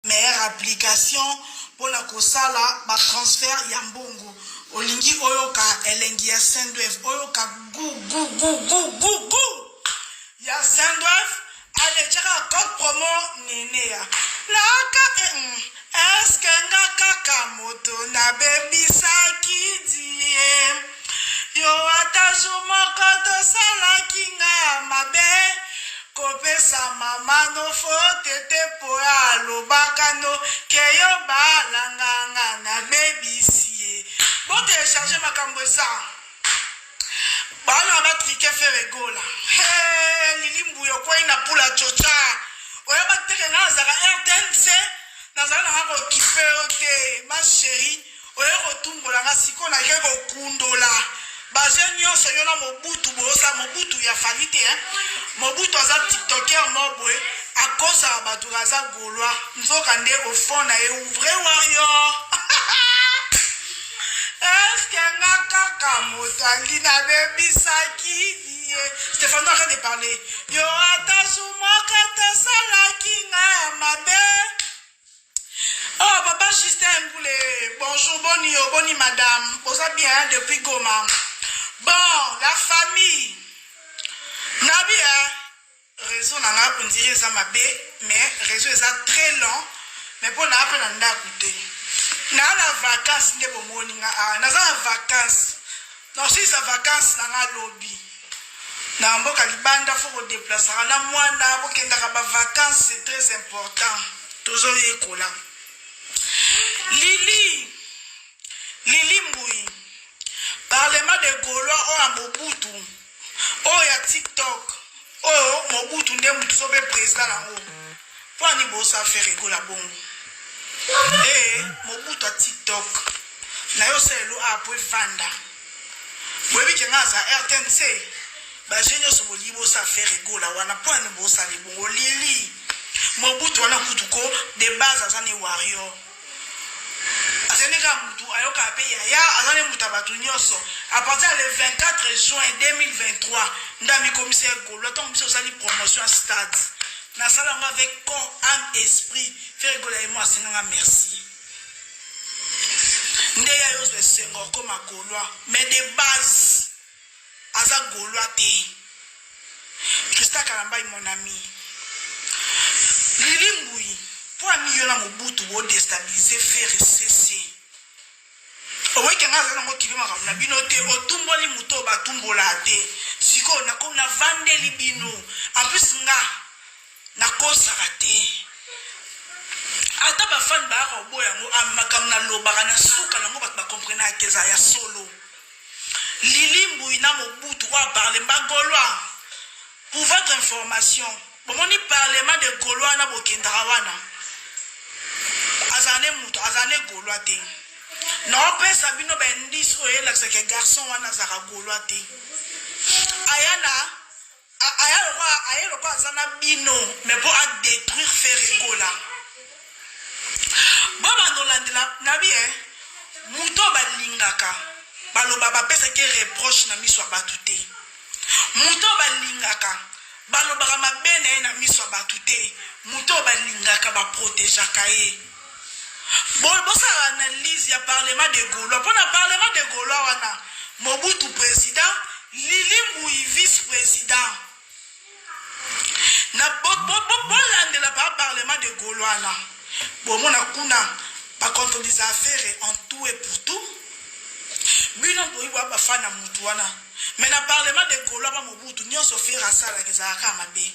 meilleure application pona kosala ba transfert ya mbongo olingi oyoka elengi ya sendwef oyoka gugugugugugu ya sendwef alejaka code promo neneya naka eske nga kaka moto nabebisaki die Yo ata jour moko tosalaki nga mabe Kopesa mama no faute te po alobaka no Que yo balanga nga na bebisi ye Bo telecharger makambu eza Bana ba trique Ferre Gola Hee Lili Mbuya okweyi na pula chocha Oya ba teke nga nazaka RTNC Nazala na nga ko kipe yo te ma cherie Oye kotumbola nga siko na ke kokundola baje nyonso yo na mobutu boza mobutu ya fali te hein? mobutu aza tiktoker mobwe akosaka bato aza golwa nzoka nde ofond na ye vrai warrior eske nga kaka moto angi nabebisaki ye stefano arrête de parler yo ata zumaka tasalaki nga ya mabe Oh, papa Justin Mboule, bonjour, boni yo, boni madame, oza bien hein, depuis Goma. Bon, la famille, nabi hein, réseau nanga on dirait eza mabe, mais réseau eza très lent, mais mpo naa mpe na ndako te. Naa na vacances nde bomoni nga awa, naza na vacances. Narcisse vacance na nga lobi na mboka libanda faut ko deplacer na mwana ko kendaka ba vacances c'est très important tozo yekola Lili Lili Mbuyi parlement de Gaulois oyo ya Mobutu oyo ya TikTok oyo Mobutu nde moto sobe président yango Pwani bosa affaire egola bongo. Eh, mobutu a TikTok. Na yo selo a po evanda. Boyebi ke nga za RTNC. Ba jeunes nyonso bolingi bosa affaire egola wana pwani bosa le bongo lili. Mobutu wana kutu ko de base aza ne warrior. azali kaka motu ayokaka mpe yaya aza nde motu ya bato nyonso apartir ya le 24 juin 2023 nde amikomisa ye golo ntango biso osali promotion ya stade nasala yango avec corps ame esprit fere gola ye mo asenganga merci nde ya yozwa esengo okoma golwa mais de base aza golois te Christa Kalambayi mon ami Lili Mbuyi mpo ami yo na Mobutu bo destabiliser Ferre CC oyoki ngai azali nango kibi makambo na bino te otumboli moto oyo batumbola te sikoyo navandeli bino en plus nga Nakosaka te. Ata ba fan ba yaka oboya yango a makambo na lobaka na suka nango bato ba comprenaka ke eza ya solo. Lili mbuyi na mobutu wa parle ba golois pour votre information bomoni parlement de golois na bokendaka wana azala ne moto azala ne golois te naopesa bino baindice oyo elakisaka garçon wana azalaka golois te aya na Aya lokola aye lokola aza na bino mais po a detruire Ferre Gola. Bo bando landela na bi eh moto balingaka baloba bapesa ke reproche na miso ya bato te. Moto balingaka balobaka mabe na ye na miso ya bato te. Moto balingaka ba protegeaka ye. Bo bosala analyse ya parlement de Gaulois mpo na parlement de Gaulois wana Mobutu president Lili Mbuyi vice president na bolandela ba parlement de Gaulois na bomona kuna bacontredisa affaire en tout et pour tout bino boyi bwa bafana mutu wana me na parlement de Gaulois ba Mobutu nyonso fere asalaka ezalaka mabe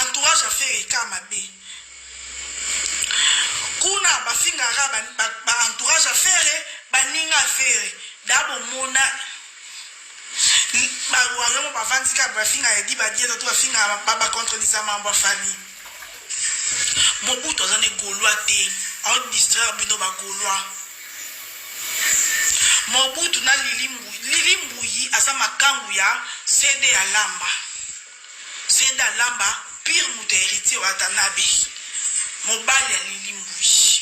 Entourage ya ferre ka mabe kuna ba fingaka ba, ba, ba entourage ya ferre ba ninga ya ferre dabo mona ba wango ba vandika ba finga ya di ba dieta to ba finga ba ba contredisa mambo ya famille Mobutu aza ne golois te azo distraire bino ba golois Mobutu na Lili Mbuyi Lili Mbuyi aza makangu ya CD Alamba CD Alamba pire moto ya heritier watanabe mobali ya Lili Mbuyi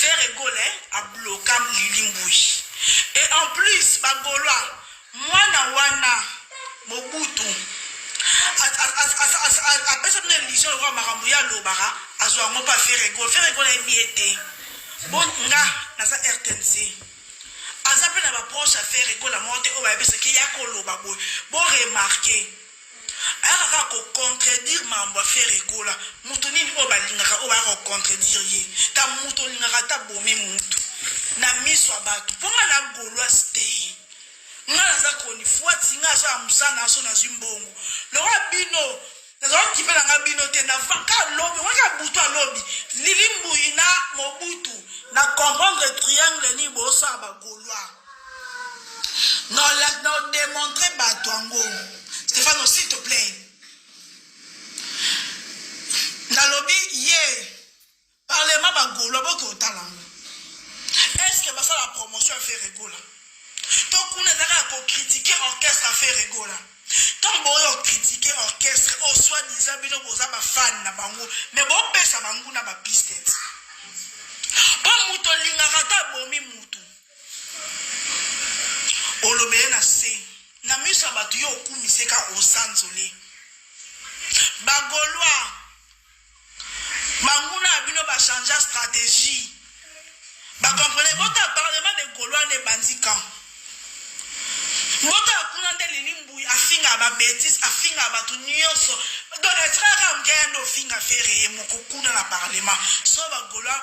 Ferre Gola a bloka Lili Mbuyi et en plus ba Golois mwana wana Mobutu apesa bino illusion lokola makambo ye alobaka azwa yango mpa Ferre Gola. Ferre Gola ayebi ye te. Bo nga naza RTNC. Aza mpe na ba proche ya Ferre Gola moko te oyo bayebisaki ye akoloba boye. Bo remarquer. Ayaka kaka ko contredire makambo ya Ferre Gola. Moto nini oyo balingaka oyo baya ko contredire ye? Ta moto olingaka ata abomi mutu na miso ya batu. Po nga na goloise te. Nga naza chronifuati, nga naza na musala na so nazui mbongo. Lokola bino naza okipe na nga bino te na vaka lobi nga ka butu alobi lili mbuyi na mobutu na comprendre triangle ni bosala ba golois. Non, la, non, démontrer bato yango. Stefano, s'il te plaît. Nalobi, ye, parlement bagolo, boke otala yango. Est-ce que basala promotion ya Ferre Gola? To kuna ezaka ya kokritike orchestre ya Ferre Gola. Ntango boye okritike orchestre oyo oh, soit disant bino boza bafane na bango, me bopesa banguna bapiste. Mpo moto olingaka ata abomi moto. olobeye na se na miso ya bato yo okumise ka osanzole bagolois banguna ya bino bachange stratégie bakomprene bota parlement de golois nde ebandi kan bota kuna nde lili mbui afinga babetise afinga bato nyonso donc etikala kaka moke ya nde ofinga fere ye moko kuna na parlement so bagolois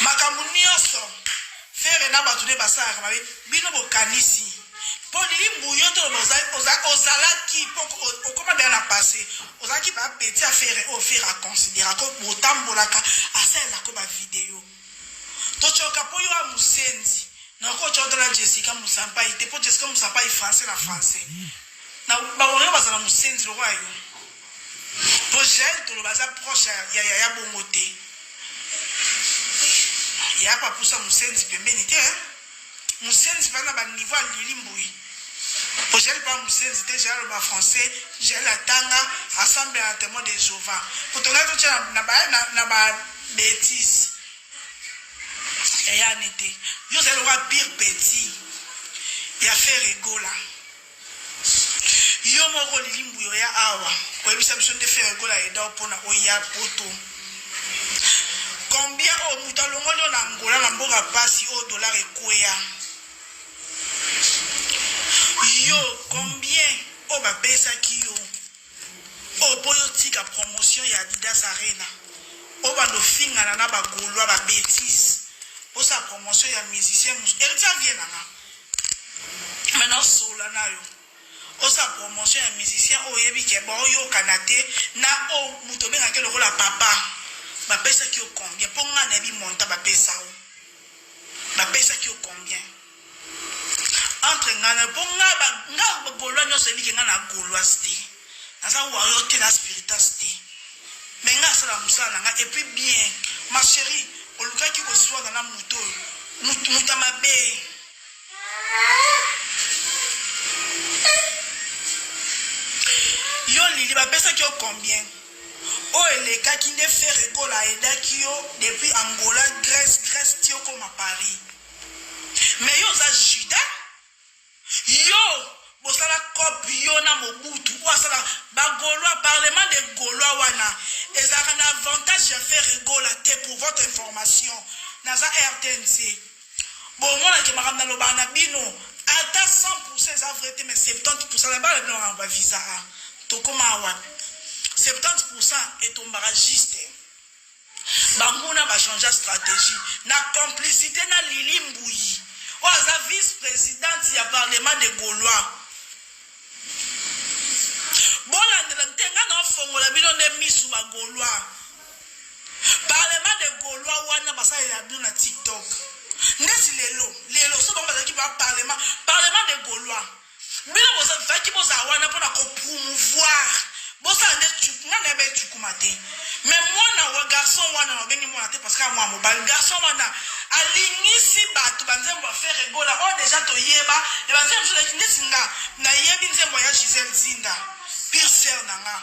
makambo nyonso fere na bato nde basalaka mabe bino bokanisi mpo lili mbuyo to ozalaki mpo okoma deya na passe ozalaki bapeti ya fere oyo fere aconsidera ko botambolaka asalelako bavideo totyoka mpo yo ya mosenzi nakotyodala jessica mosampai te mpo jessica mosampai français na français Na ba warrior baza na musenzi lokola yo. Po Jael tolo baza proche ya ya ya bongo te. Ya pa pusa musenzi pembeni te. Eh? Musenzi pa na ba niveau ya lili mbuyi. Po Jael pa musenzi te Jael ba français, Jael atanga ensemble ya témoin de Jéhovah. Po tona to tshela na ba na, na ba bêtises. eyani te yo ozali lokola pire petit ya fere egola Yo moko lili mbuyi oya awa oyebisa biso nde ferre gola aida yo pona oya poto combien oyo mutu alongoli yo na angola na mboka pasi oyo dollar ekweya yo combien oyo bapesaki yo oyo mpo yo tika promotion ya adidas arena oyo bando ofingana na bagolwa babetise osa promotion ya musicien mosu eriti avie nanga maintenant sola nayo osa promotion ya musicien oyo oyebi ke boyokana te na o moto obengaki lokola papa bapesaki yo combien mpo ngai nayebi monta bapesa yo bapesaki yo combien entre ngai na mpo ngai ngai golwa nyonso yebi ke ngai na golwa te Naza warrior te na spiritas te mais nga asala musala na nga et puis bien ma chérie olukaki koswana na moto oyo moto mabe yo lili bapesaki yo combien oyo elekaki nde fere gola aedaki yo depuis angola grèce grèce ti okoma paris mais yo oza juda Yo bosala cop yo na mobutu oyo asala ba gaulois parlement de gaulois wana ezalaka na avantage ya ferre gola te pour votre information naza rtnc bomonake makambo nalobaka na bino ata 100 eza vrai te mais 70 na bana bino makambo ba visa a tokoma wapi 70 etombaka juste Banguna ba changea strategie na complicite na Lili Mbuyi oyo aza vice presidente ya parlement de Gaulois. Bolandela te nga na ofongola bino nde misu ba Gaulois. Parlement de Gaulois wana basalela bino na TikTok. Ndesi lelo lelo so bango bazalaki ba parlement parlement de Gaulois. bino boza vaki boza wana mpo na kopromouvoir bosala nde cuku nga nayebi ecukuma te me mwana wa garçon wana na obengi mwana te parce que mwana mobali garçon wana alingisi bato banzembo ya fere egola oyo oh, deja toyeba e banzembo mosusu neti nga nayebi nzembo ya gisele zinda pire ser na nga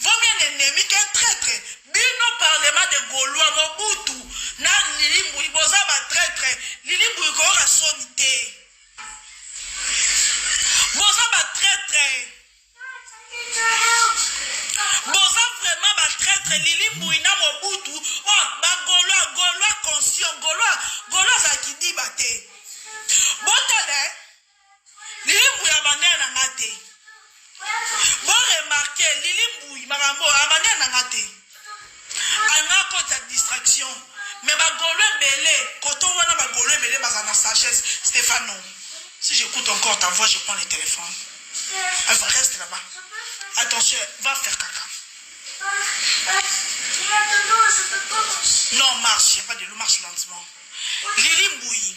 Vaut mieux un ennemi qu'un traitre bino parlement de golois mobutu na lili mbuyi boza ba traitre lili mbuyi koyoka soni te boza ba traitre boza vraiment ba traitre lili mbuyi na mobutu oh, ba golois golois conscient golois golois azalaki diba te botala eh? Lili Mbuyi abandela na nga te. Bo remarquer Lili Mbuyi makambo abandela na nga te. Anga kota distraction. Mais ba golo ebele, koto wana ba golo ebele baza na sagesse. Stefano, si j'écoute encore ta voix, je prends le téléphone. Enfin, reste là-bas. Attention, va faire caca. Non, marche, il n'y a pas de l'eau, marche lentement. Lili Mbuyi.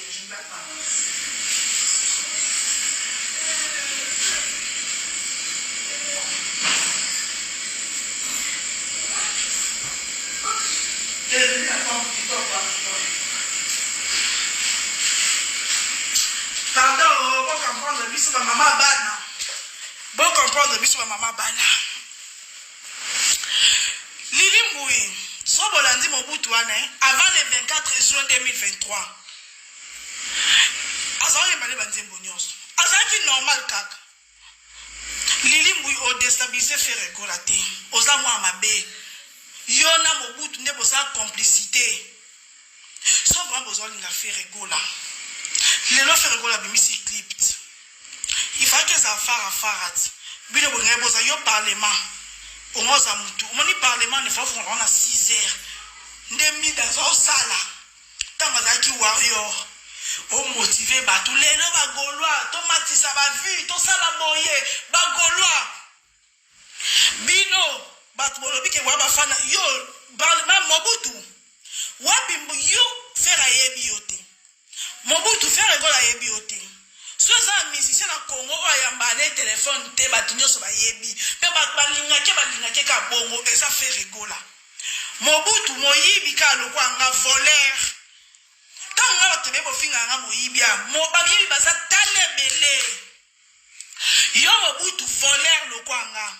comprendre biso bamama bana Lili Mbuyi, soki bolandi Mobutu wana hein, avant le 24 juin 2023 azalaki yemba nde banzembo nyonso, azalaki normal kaka. Lili Mbuyi o destabiliser Ferre Gola te, oza mwa mabe. Yo na Mobutu nde boza complicité. Soki vraiment bozo linga Ferre Gola, lelo Ferre Gola abimisi clip. Il fallait que ça fara farat. Bino bolinga boza yo parlement. Omoza mutu. Omoni parlement ne faut fondre na 6 heures. Nde mida zo sala. Tamba za ki warrior. O motiver batu lelo ba golois, to matisa ba vue, to sala boye, ba golois. bino bato bolobi ke wa bafana yo barlema mobutu wapi yo fere ayebi yo te mobutu fere ekolo ayebi yo te so eza na musicien na congo oyo ayamba ne telefone te bato nyonso bayebi mpe bato balingaki balingaki ka bongo eza fere egola mobutu moyibi kaka lokwa nga voler ntango nga bato ebe bofinga nga moyibi ya bamoyibi baza tala ebele Yo mobutu voleur lokwa nga.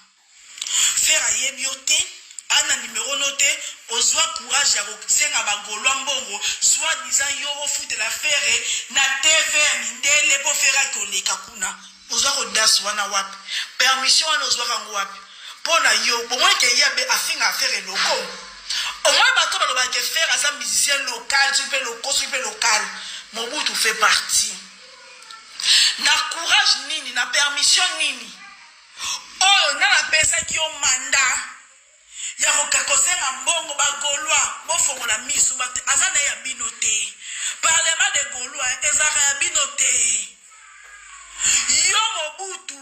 Ferre ayebi yo te, a na numero no te, ozwa courage ya kosenga ba golois mbongo soit disant yo ofutela Ferre na TV ya mindele po Ferre akoleka kuna. Ozwaka audace wana wapi? Permission wana ozwaka ngo wapi? Po na yo bomoni ke ye abe afinga Ferre loko. Omoni bato balobaka ke Ferre aza musicien local soki pe loko soki pe local. Mobutu fait partie. Na courage nini, na permission nini oyo na napesaki yo mandat ya koka kosenga mbongo ba gaulois bofongola misu bato aza na ya bino te parlement de gaulois ezalaka ya bino te yo mobutu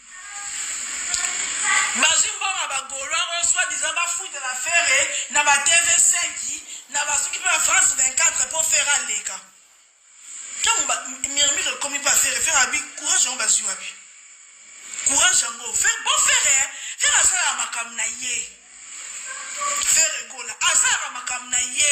bazwi mbongo ya ba gaulois oyo soit disant bafutela ferre na ba tv 5 na bazuki mpe ba france 24 mpo ferre aleka ntango mirmire ekomi mpe afere ferre abi courage yango bazwi wapi courage yango bo ferre ferre asalaka makambo na ye ferre gola asalaka makambo na ye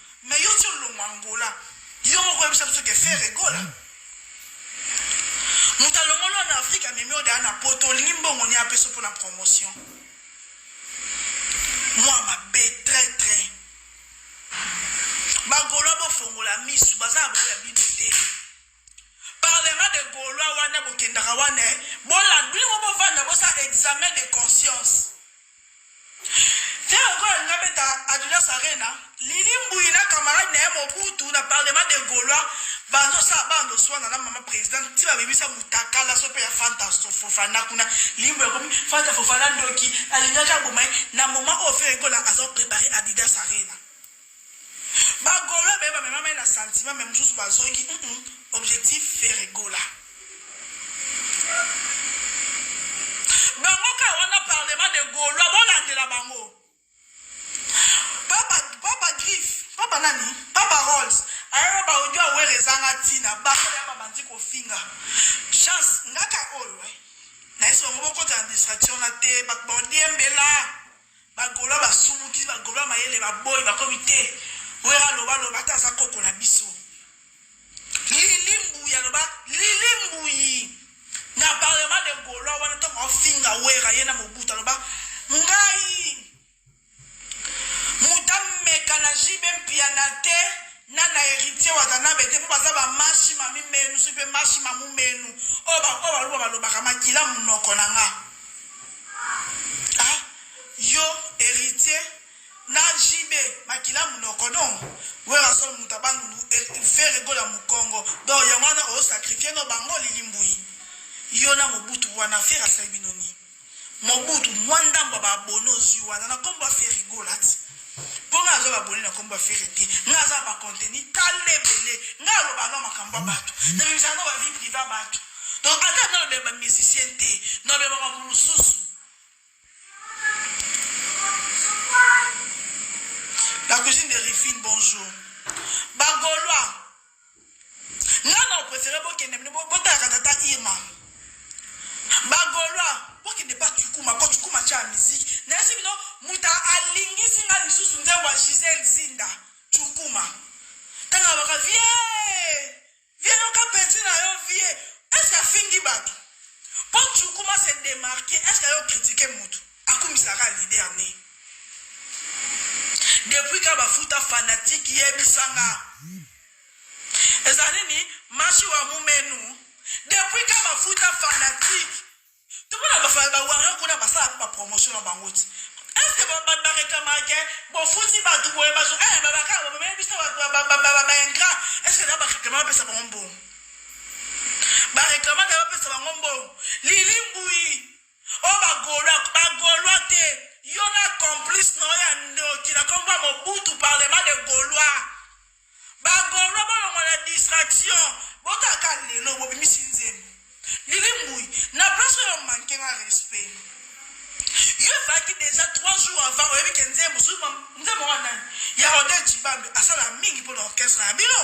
Mais yo sur le Angola, yo moko yebisa biso ke Ferre Gola. Moto alongoli en Afrique amemi oyo daa na poto olingi mbongo ni apeso mpo na promotion. Mwa mabe très très. Bagolo bofongola misu baza aboya bino te. Parlement de golois wana bokendaka wana eh. Bola bino bovanda bosa examen de conscience. Tala okola linga beta Adidas Arena, Lili Mbuyi na camarade na ye Mobutu na parlement de golois bazo sa bando swana na mama president ti babebisa mutakala so pe ya Fanta Fofana kuna limbo ekomi Fanta Fofana ndoki alingaki aboma ye na moment oyo Ferre Gola azo prepare Adidas Arena. Ba golois baye bamemama ye na sentiment mais mususu bazongi hum objectif ferre gola. Bango kaka wana parlement de golois bolandela bango. Papa papa griffe papa nani papa rolls ayeba ba audio ya were ezanga ntina bango ya babandi kofinga chance ngaka oyo eh. nayesi bango bokota na distraction na te bato badiembela Ba golois ba sumuki ba golois mayele ba boyi ba komi te wera loba loba ta za koko na biso lili mbuya loba lili mbuyi na parlement de golois wana ntango afinga wera ye na mobuta loba ngai moto ameka na jb mpiana te na na héritier watanabe te mpo baza bamashi ma mimenu soki mpe mashi ma mumenu oyo baluba balobaka makila monoko na nga Ah, yo heritier na JB makila munoko no wera sol muta bandundu ferre gola mukongo donc yango wana o sacrifier no bango lilimbui yo na mobutu wana ferre asali bino nini mobutu mwa ndambo ya baabone ozwi wana na nkombo ya ferre gola ti mpo ngai naza babone na nkombo ya fere te ngai aza na baconteni tala ebele ngai alobaka makambo ya bato nabimisaka na bavie prive ya bato donc ata nalobela bamusicien te nalobela makambo mosusu la cuisine de rifine bonjour bagolois nga na prefere bokende mine botalaka tata irma bagolwa bokende pa tukuma po tukuma tya ya miziki nayesi bino moto alingisi nga lisusu nzembo ya gisele zinda tukuma ntango abaka vie vie noka peti na yo vie eske afingi bato po tukuma se demarke eske ayo kritike motu Akumisa ka leader ne. Depuis ka bafuta fanatique yebisa nga. Ezali ni mashi wa mumenu. Depuis ka bafuta fanatique. Tumana ba fa ba warrior kuna basala ba promotion na bango ti. Est-ce que ba ba ba reclama ke bo futi ba tu boye ba zo eh ba ba ka ba ba bisa ba ba ba ba ba ingra. Est-ce que na ba reclama pesa ba mbongo? Ba reclama na ba pesa ba mbongo. Lili mbuyi. Oyo ba golois ba golois te yo na complice na yo ya ndoki na kombo ya mobutu parlement de golois ba golois bolongwa na distraction botaka lelo bobimisi nzembo lili mbui na place oyo manke nga respect yo efalaki deja 3 jours avant oyebi ke nzembo nzembo wana nani ya ode jibambe asala mingi mpo na orchestre ya bino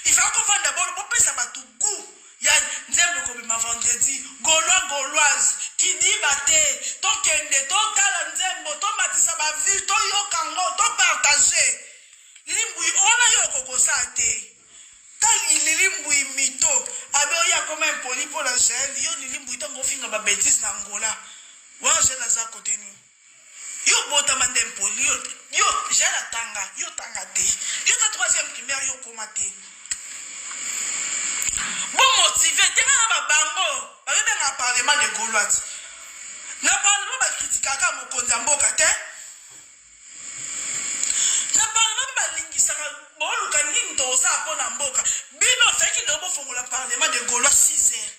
Il faut qu'on vende d'abord pour pesa batu goût. Ya nzembo kobima vendredi, gaulois gauloise, kidiba te, tokende, totala nzembo, tomatisa ba vue, toyoka ngo, to partager. Limbui ona yo kokosa te. Tali lilimbui mito, abe oya koma impoli pour la gel, yo lilimbui tango finga ba bêtises na Angola. Wa gel aza kote ni. Yo obotama nde impoli yo yo jeune atanga yo otanga te yo ta troisième primaire yo okoma te bomotive te nga na babango babebengaka parlement de goloite na parlement bakritikaka mokonzi ya mboka te Boluka nini tokosala mpo na mboka bino feki nde bofongola parlement de gaulois 6 heures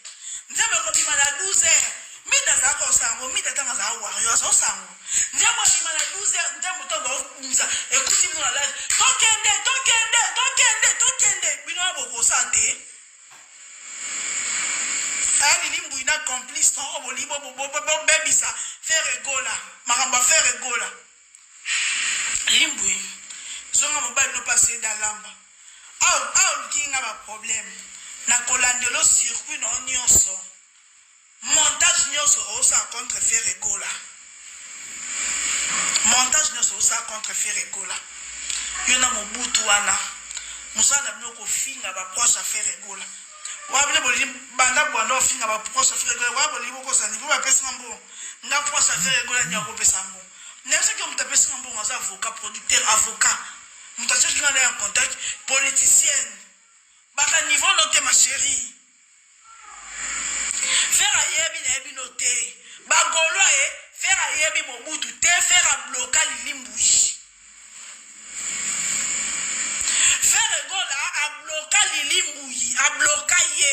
nzambe akobima na 12 heures mida azala kosa yango mida ntango azala wario azosa yango nzambe abima na 12 heures ntango ntango baobumisa ekuti bino na live tokende tokende tokende tokende bino ya bokosa te alili mbuina complice toko bolibo bobebisa fere gola makambo ya fere gola Limbwi, zonga mobali no pa sede alamba. Awa awa luki nga ba problème. Na kolandelo circuit na nyonso. Montage nyonso osa contre Ferre Gola. Montage nyonso osa contre Ferre Gola. Yo na mobutu wana. Musala na bino kofinga ba proche ya Ferre Gola. Wabile boli banda bwanda ofinga ba proche ya Ferre Gola. Wabili bokosa ni bo ba pesa mbo. Nga proche ya Ferre Gola nyako pesa mbo. Naza ke moto apesi nga mbongo aza avocat producteur avocat moto atiaki nga naye en contact politicienne baka niveau no te ma chérie fere ayebi na ye bino te bagolwa ye fere ayebi mobutu te fere abloka lilimbui fere gola abloka lilimbuyi abloka ye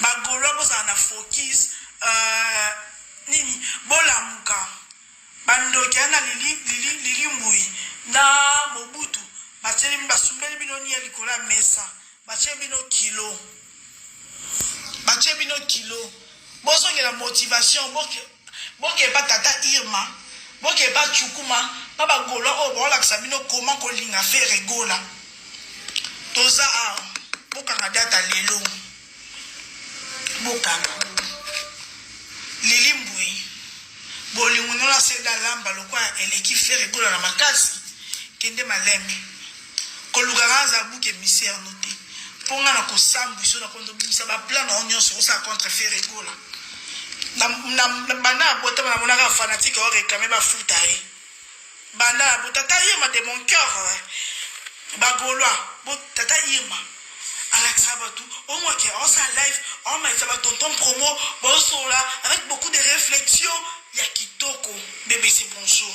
Ba golois bozala na focus euh nini bolamuka ba ndoki aya na lili lili lili mbuyi na mobutu batieli basumbeli bino nie likolo ya mesa batie bino kilo batie bino kilo bozongela motivation boke Bokeba tata Irma, bokeba tshukuma na ba golois oyo baolakisa bino comment kolinga ferre gola. Toza awa bokanga data lelo bokanga lili mbui bolingo nola seda lamba lokola eleki ferre gola na makasi kende malembe Koluka nga aza bouc emissaire no te. Po nga na kosambu iso na kondo bimisa ba plan na onionso osa contre Ferre Gola. Na na banda abotama na monaka fanatique o réclamer ba futa ye. Banda abota ta yema de mon cœur. Hein. Ba Gaulois, bo tata yema. alakisa bato omwake aosa live aomalisa batonton promo bosola avec beaucoup de réflexion ya kitoko bbc bonjour